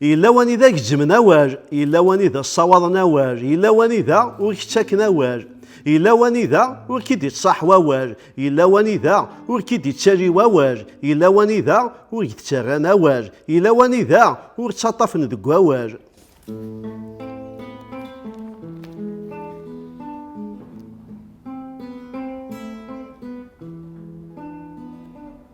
Yella wanida gezzmen awal, yella wanida ssawaḍen awal, yella wanida ur k-ttaken awal, yella wanida ur k-id-ittṣaḥ wawal, yella wanida ur k-id-ittali wawal, yella wanida ur k-d-ttarran awal, yella wanida ur ttaṭṭafen deg wawal.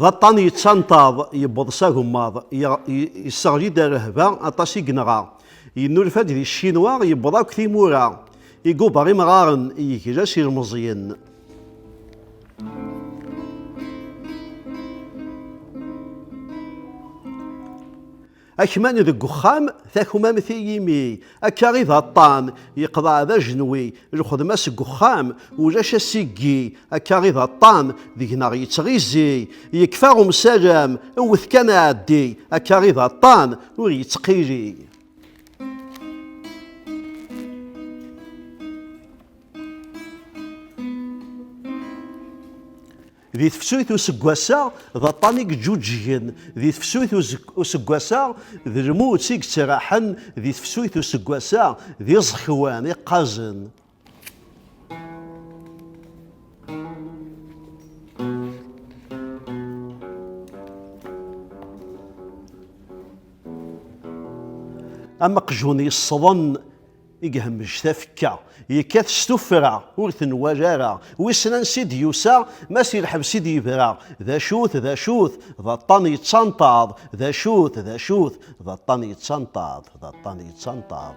D aṭṭan yettanṭaḍ, yewweḍ s agemmaḍ, yesseɣli-d ar rehba, aṭas i yenɣa. Yennulfa-d di Ccinwa, yewweḍ akk timura, iguber imɣaren, yegla s ilmeẓyen. Akman deg uxxam, takmamt i yimi, akka i d aṭṭan, yeqḍeɛ d ajenwi, lxedma seg uxxam, ulac asiggi, akka i d aṭṭan, deg-neɣ yettɣizi, yekfa umsalem, wwet kan aɛeddi, akka i d aṭṭan, ur yettqili. Di tefsut useggas-a, d aṭṭan i yeǧǧuǧǧgen di tefsut useggas-a, d lmut i yettraḥen di tefsut useggas-a, d iẓekwan iqqazen. Am aqjun yesseḍen I ihemmec tafekka, yekkat s tuffra, ur t-nwala ara, wissen ansi d-yusa, ma si lḥebs i d-yebra, d acu-t, d acu-t, d aṭṭan yettanṭaḍ, d acu-t, d acu-t, d aṭṭan yettanṭaḍ, d aṭṭan yettanṭaḍ.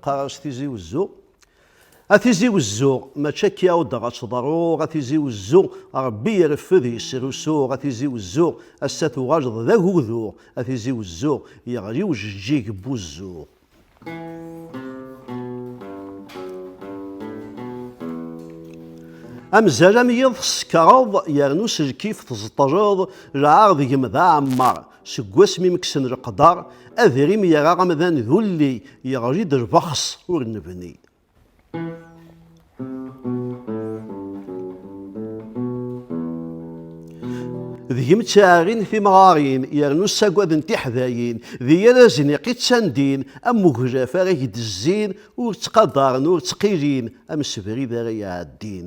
qqareɣ Tizi Uzzu a Tizi Uzzu mačči akka i dɣa ttḍerruɣ a Tizi Uzzu Rebbi ireffed yesrusuɣ a Tizi Uzzu ass-a tuɣaleḍ d aguduɣ a Tizi Uzzu yeɣli ujeǧǧig n wuzzuɣ Amzal am yiḍ tsekreḍ yernu s lkif teẓṭleḍ lɛar deg-m d aɛemmar seg wasmi meksen leqder adrim yerra amdan d ulli yeɣli-d lbexs ur nebni. deg-m ttɛarin timɣarin yernu ssagaden tiḥdayin d yal azniq i ttandin am uglaf ara ak-d-zzin ur ttqadaren ur ttqilin am sebrid ara iɛeddin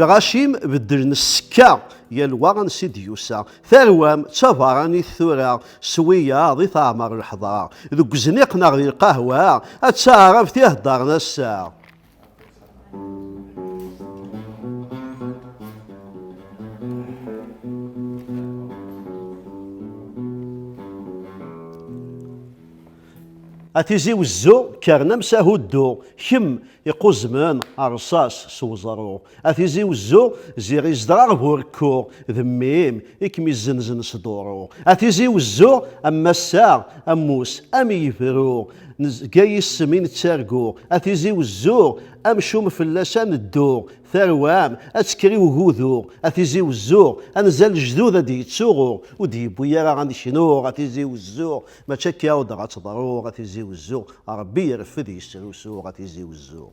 lɣacim beddlen ssekka yal wa ansi d-yusa tarwam d tabaranit tura s wiyaḍ i teɛmer lḥeḍra deg uzniq neɣ di lqahwa ad taɛrabt i heddren ass-a a tizi wezzu kkren amsahu ddu kemm iquzemen rṣas s uẓru A tizi wezzu, ziɣ izedɣa bu rekku, d mmi-m i kem-izzenzen s duṛu. A tizi wezzu, am massa, ammus, am yebru, nezga yis-m i nettargu. A tizi wezzu, amcum fell-as a neddu, tarwa-m ad tekker i ugudu. A tizi wezzu, anza lejdud ad d-yettuɣu, ur d-yewwi ara ad neknu. A tizi wezzu, mačči akka ur d-ɣa tteḍru. A tizi wezzu, Ṛebbi ireffed yesrusu. A tizi wezzu.